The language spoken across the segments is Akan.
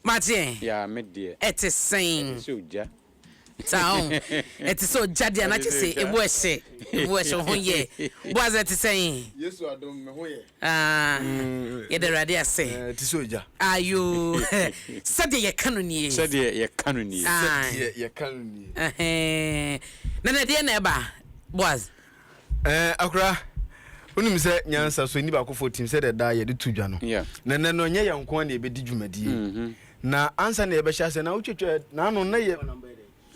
M'adeɛ, ɛte sɛn? Saa o, ɛte sɛ ogya deɛ a, na kyerɛ sɛ emu yɛ hye, emu yɛ hye, wo ho yɛ. Boaz, ɛte sɛn? Ah, yɛda Awurade ase. Ayo, sɛdeɛ yɛka no nie. Ae, ɛhɛɛ. Nana, ɛdeɛn na ɛba, Boaz? Ɛɛ, akora, wonim sɛ nyansa so ani baakofoɔ tim sɛdeɛ daa yɛde to dwa no. Yeah. Na nnɛ no, ɛnyɛ yɛn nko ara na yɛbɛdi dwumadie. Mhm. Na ansa na yɛbɛhyɛ aseɛ na wotwatwa n'ano na yɛ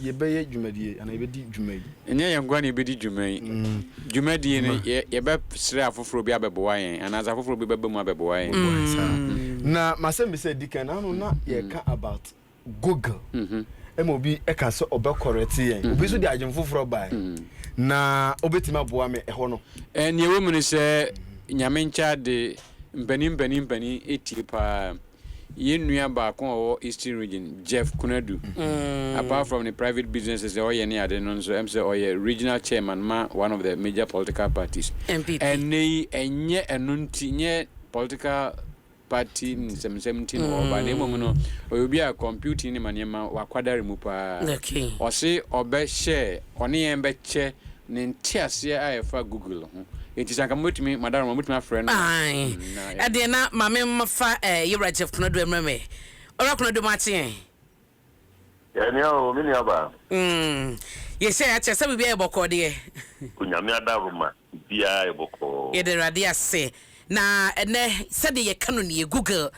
yɛbɛyɛ dwumadie anaa yɛbɛdi dwuma yi. Ɛnyɛ yɛn nko ara na yɛbɛdi dwuma yi. Mm. Dwumadie no, Ma. yɛ yɛbɛsrɛ afoforɔ bi abɛboa yɛn anaasɛ afoforɔ bi bɛba mu abɛboa yɛn. Boa yɛn saa. Mm. Na m'asɛmmisa a ɛdi kan, n'ano na yɛreka about Google ma obi ka sɛ ɔbɛkɔrɛte yɛn. Obi nso de adwene foforɔ bae, na wobɛtumi aboa me ɛhɔ no. Nea ɛwɔ mu ne sɛ, Nyame nkyɛ ade, mpanin mpanin mpanin tie paa. Yɛn nua baako a ɔwɔ Eastern Region, Jeff Konadu, apart from ne private businesses a ɔyɛ ne ade no nso, ɛm sɛ ɔyɛ Regional Chairman ma one of the major political parties. Ɛnnɛ yi, ɛnyɛ ɛno nti, ɛnyɛ political party nsɛmnsɛm nti na ɔreba na mmom no, ɔyɛ obi a computing ne ma nneɛma wakwadare mu paa. Okay. Ɔse ɔbɛhyɛ, ɔne yɛn bɛkyɛ ne nteaseɛ a ɛfa Google ho. Enti sɛ anka mobɛtumi, Madaroma, mobɛtumi afrɛ no a, Ae. mm, na yɛ. Ɛdeɛ na maame mfa eh, Yewura Jeff Konadu mmrɛ me. Owura Konadu, moate yɛn? Yɛn nia oo me nua baa. Umm yɛhyɛ ya kyerɛ sɛ biribiara yɛ bɔkɔɔ deɛ. Onyame adahroma biribiara yɛ bɔkɔɔ. Yɛda awurade ase na ɛnɛ sɛdeɛ yɛka no nie Google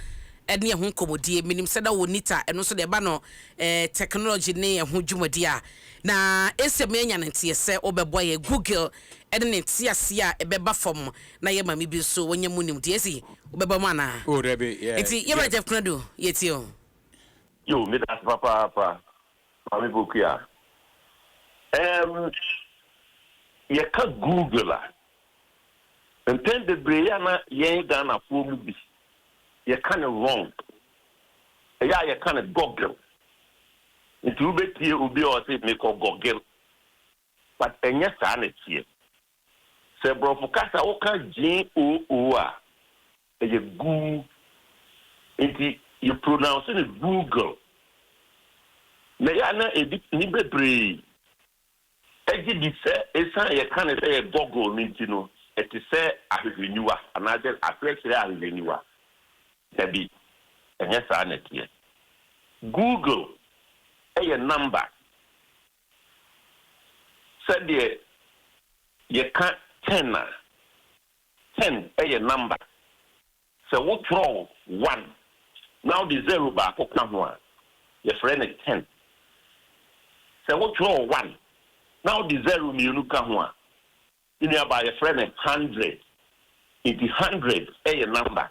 ɛne ɛho nkɔmɔdie menim sɛ na wɔ nita ɛno nso deɛ ɛba no eh, technology ne ɛho dwumadie a na ɛsɛ me anya no nteɛ sɛ wobɛboa yɛ Google ɛne ne nteaseɛ a ɛbɛba fam na yɛ maame bi nso wanya mu nimdeɛ ɛsi wobɛba mu anaa Oh dabi yeah nti yɛwura Jeff Jeff Konadu yɛtie o. Yoo meda ase papaapa Maame Pokuya. Ɛɛm yɛka Google a, mpɛn bebree yɛ a na yɛn Ghanafoɔ mu bi yɛka no wrong. Ɛyɛ a yɛka no Goggle. Nti wobɛtie obi a ɔse mekɔ Goggle but ɛnyɛ saa na ɛteɛ. Sɛ Borɔfo kasa woka G-o-o a, ɛyɛ goo. Enti yɛpronounce no Google. Na ɛyɛ a na ɛdi nni bebree gye di sɛ ɛsiane a yɛka no sɛ ɛyɛ Goggle no nti no, ɛte sɛ ahwehwɛniwa anaasɛ akyerɛkyerɛ ahwehwɛniwa. Dabi, ɛnyɛ saa na ɛteɛ. Google yɛ number. Sɛdeɛ yɛka ten a, ten yɛ number. Sɛ wotwerɛ one na wode zero baako ka ho a, yɛfrɛ no ten. Sɛ wotwerɛ one na wode zero mmienu ka ho a, me nuabaa, yɛfrɛ no hundred. Enti hundred yɛ number.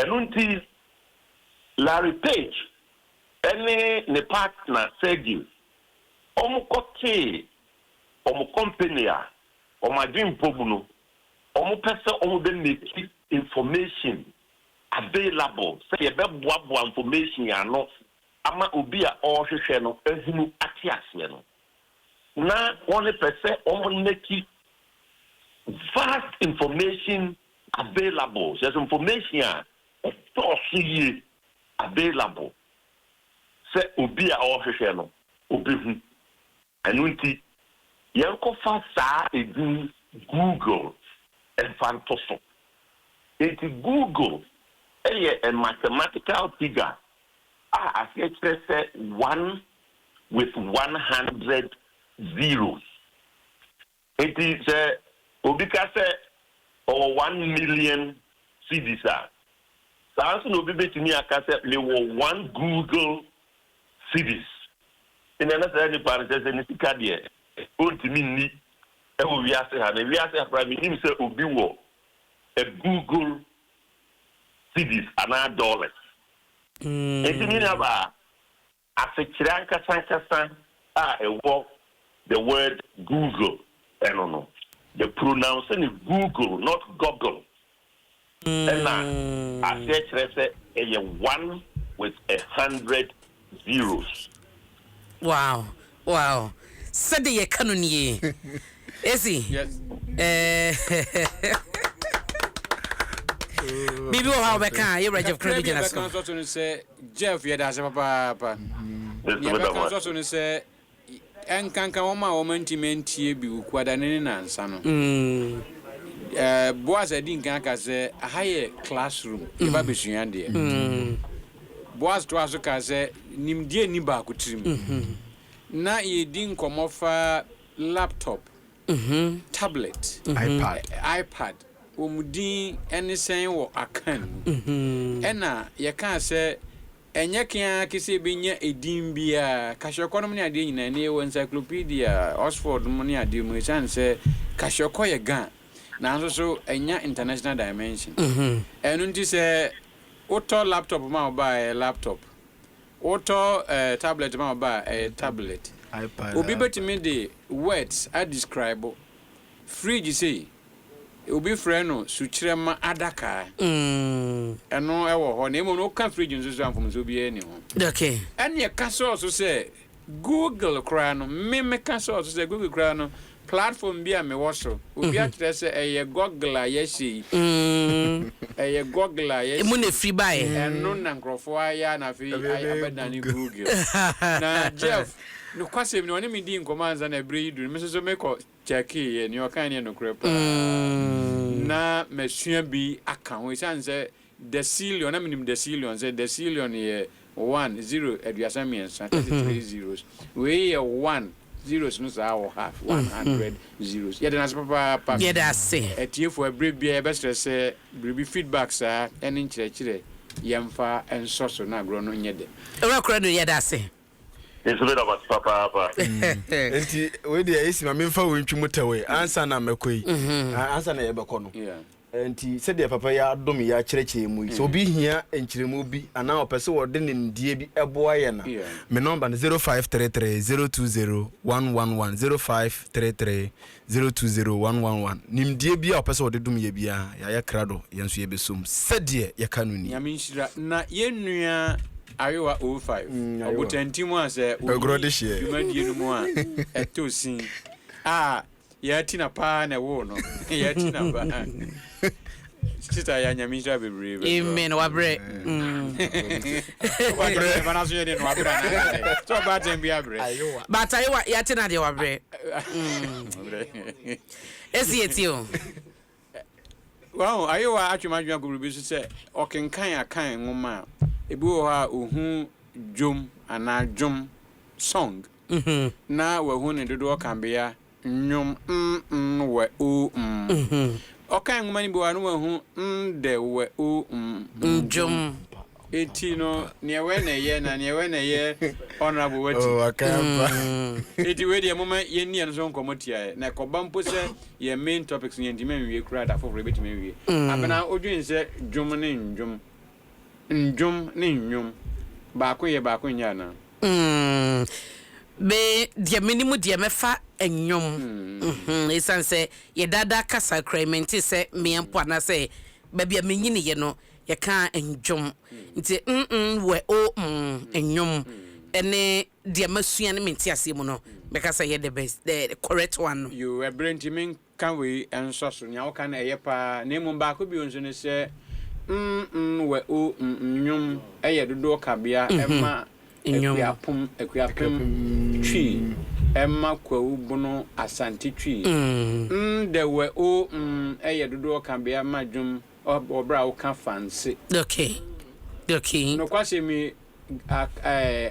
Ɛno nti, Larry Page ne ne partner Sergey, wɔkɔtee wɔn kɔmpani a wɔn adwene mpɔ mu no, wɔpɛ sɛ wɔbɛ make information available, sɛ yɛbɛboaboa information ano ama obi a ɔrehwehwɛ no ahunu ate aseɛ no. na wɔn pɛ sɛ wɔn mɛki vast information available, kyerɛ sɛ information a ɛdɔɔso yie available sɛ obi a ɔrehwehwɛ no ɔbɛhu. Ɛno nti yɛnkɔfa saa edin Google mfa nto so. Enti Google yɛ a mathematical figure a aseɛ kyerɛ sɛ one with one hundred zeros. Enti sɛ obi ka sɛ ɔwɔ one million cedis a, saa ara nso na obi betumi aka sɛ mewɔ one Google cedis. Enti na na saa nipa no kyerɛ sɛ ne sika deɛ ontumi nni wɔ wiase ha no. Wiase ha koraa mennim sɛ obi wɔ a Google cedis anaa dollars. Enti me nuabaa, Asekyerɛ ankasankasa a ɛwɔ the word Google no no, yɛ pronounce no Google not Goggle ɛna aseɛ kyerɛ sɛ ɛyɛ one with a hundred zeros. Wow! Wow sɛde yɛka no nie esi biribi wɔ hɔ a wobɛka a yɛwura jeff kra bi gyina so nso so no sɛ jeff yɛda ase papaapa deɛ bɛka nso so no sɛ ɛnkanka wɔn a wɔn ntumi ntie bi wukuadane ne nansa no boas adi nkan aka sɛ aha yɛ classroom yɛba bɛsua deɛ Boaz toaa so kaa sɛ, Nimdeɛ nni baako tirim. Ná yɛredi nkɔmmɔ fa laptop, tablet, iPad, wɔn din ne sɛn wɔ Akan mu. Ɛnna yɛkaa sɛ, Ɛnyɛ ke ara ke sɛ yɛbɛnya edin biara, kahyɛkɔ nom ne adeɛ nyinaa, ɛnnɛ yɛwɔ encyclopedia, Oxford nom ne adeɛ mu, ɛsiane sɛ kahyɛkɔ yɛ Ga, nanso so ɛnya international dimension. Ɛno nti sɛ Wotɔ laptop ma wo ba a, ɛyɛ laptop. Wotɔ ɛɛ tablet ma wo ba a, ɛyɛ tablet. Obi bɛtumi de words adescribe fridge sei, obi frɛ no sukyerɛmma adaka. Ɛno wɔ hɔ. Na mmom no, woka fridge nso so a, mfomsoɔ biara nni ho. Ɛnneɛ ka sɔɔ so sɛ Google koraa no, me meka sɛ ɔso sɛ Google koraa no, platform bi a mewɔ so, obi akyerɛ sɛ ɛyɛ Google a yɛahyɛ yi. Ɛyɛ Google a yɛahyɛ yi. Emu na ɛfiri baeɛ. Ɛno na nkurɔfoɔ ayɛ a na afei abɛdane Google. Na Jeff, nokwasɛm ni, ɔne me dii nkɔmmɔ ansa na berɛ yi duru no, me nso so mekɔ kyɛkeeɛ. Nea ɔkae no yɛ nokorɛ paa. Na masua bi aka ho. Ɛsiane sɛ Decillion, na menim decillion sɛ decillion yɛ one, zero, aduasa mmiɛnsa, thirty three zeros. Wei yɛ one, zeros no saa wɔ ha, one hundred zeros. Yɛda no ase papaapa. Yɛda ase. Atiefo, ɛberɛ biara yɛbɛsrɛ sɛ biribi, feedback saa, ɛne nkyerɛkyerɛ, yɛmfa nsɔ so na agorɔ no nyɛ dɛ. Owura Koradu, yɛda ase. Me nso meda mo ase papaapa. Enti wei deɛ esi ma memfa wei ntwi mu tɛwee ansa na mɛkɔ yi, ansa na yɛbɛkɔ no. Enti, sɛdeɛ papa yi adom yɛn akyerɛkyerɛ yɛn mu yi, sɛ obi hia nkyerɛmu bi anaa ɔpɛ sɛ ɔde nimdeɛ bi boa yɛn a, me nɔmba no zero five three three zero two zero one one one, zero five three three zero two zero one one one. Nimdeɛ biara a ɔpɛ sɛ ɔde dom yɛn biara, yɛayɛ krado, yɛn nso yɛbɛsɔ mu sɛdeɛ yɛka no ni. Nyame nhyira. Na yɛn nua Ayowa 05, Ɔbotantim a sɛ ɔnni dwumadie no mu a, ɛtɔ sin a Yɛa ti na paa na ɛwoo no. Yɛa ti na paa. Sista yɛa nyame nhyira bebree bɛ so. Amen. Wabrɛ. Wabrɛ. Ɛba na so yɛ de no wabrɛ na. So ɔba atɛn bi abrɛ. But ayewa yɛa ti na deɛ wabrɛ. Wabrɛ. Esi yɛ ti o. Wahu, Ayewa atwe m'adwene akɔ biribi so sɛ ɔkenkan Akan nwoma a, ebi wɔ hɔ a ohu dwom anaa dwom, song, na wahu ne dodoɔ kabea, nnwom, n-n, wɛ, o-m. Ɔkan nwoma no bi wɔ hɔ a na wahu n-dɛ, wɛ, o-m, ndwom. Enti no neɛ wɛ na ɛyɛ na neɛ wɛ na ɛyɛ honourable wati. Oh, akampa. Mm. Enti wei deɛ moma yɛnni ɛno so nkɔmmɔ tiaɛ na ɛkɔba mpo sɛ yɛn main topics no yɛntumi anwie koraa da foforɔ yɛbɛtumi awie. Mm. Abena wodwen sɛ dwom ne nnwom ndwom ne nnwom baako yɛ baako nyɛ anaa? Mm. Me deɛ menim deɛ mɛfa nnwom. Mm. Ɛsiane sɛ yɛdaadaa kasa kura mente sɛ mmea mpo anaasɛ baabi a menyiniiɛ no Yɛkaa nnwom nti mm wɛ o mm nnwom ne deɛ masua ne me nteaseɛ mu no mɛka sɛ ɛyɛ the best the correct one no. Yoo ɛberɛ nti menka wei nsɔ so, nea woka no ɛyɛ paa na mmom baako bio nso ne sɛ mm wɛ o mm nnwom yɛ dodoɔ kabea ma Akuapom, Akuapem, Twi ma Kwawu Bono, Asante Twi. Mm dɛ wɛ o mm yɛ dodoɔ kabea ma dwom Wɔ bere a woka fa nse. Doki, doki. Nokwasɛm yi,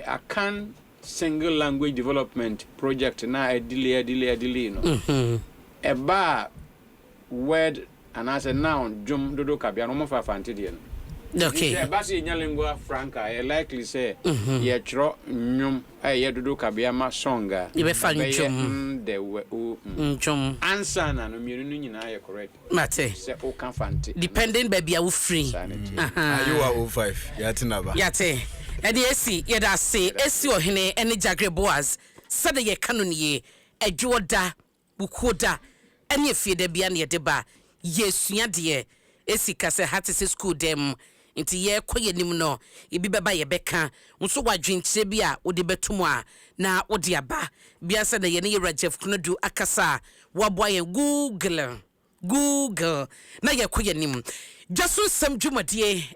Akan Single Language Development Project no a ɛdilii, ɛdilii, ɛdilii no, ɛbaa word anaasɛ noun dwom dodow kabea no, wɔmfa fa nte deɛ no. Doki. Nti sɛ ɛba sɛ yɛnya lingua franca a, ɛyɛ likely sɛ yɛtwerɛ nnwom a ɛyɛ dodow kabea ma song a, ɛbɛyɛ n-de-we-o-m. Ndwom. Ansa na no, mmienu no nyinaa yɛ correct. Mate. Sɛ o ka fante. Depending baabi a wo firi. Saa na ɛteɛ. Ahaa. Ayewa 05, yɛate n'aba. Yɛate. Ɛnneɛ esi, yɛda ase, esi Ɔhene ne Gyagre Boaz, sɛdeɛ yɛka no nie, Adwoɔ da, Bukuo da, ɛne Afieda biara na yɛde ba. Yɛresua adeɛ. Esi ka sɛ ha te sɛ sukuu dan mu. Nti yɛrekɔ yɛn anim no, ebi bɛba a yɛbɛka. Nso wɔ adwenkyerɛ bi a wode bɛto mu a, na wode aba. Bi ansa na yɛne Yewura Jeff Konadu akasa a, waboa yɛn. Google, Google, na yɛrekɔ yɛn anim. Dwa so nsɛm dwumadie.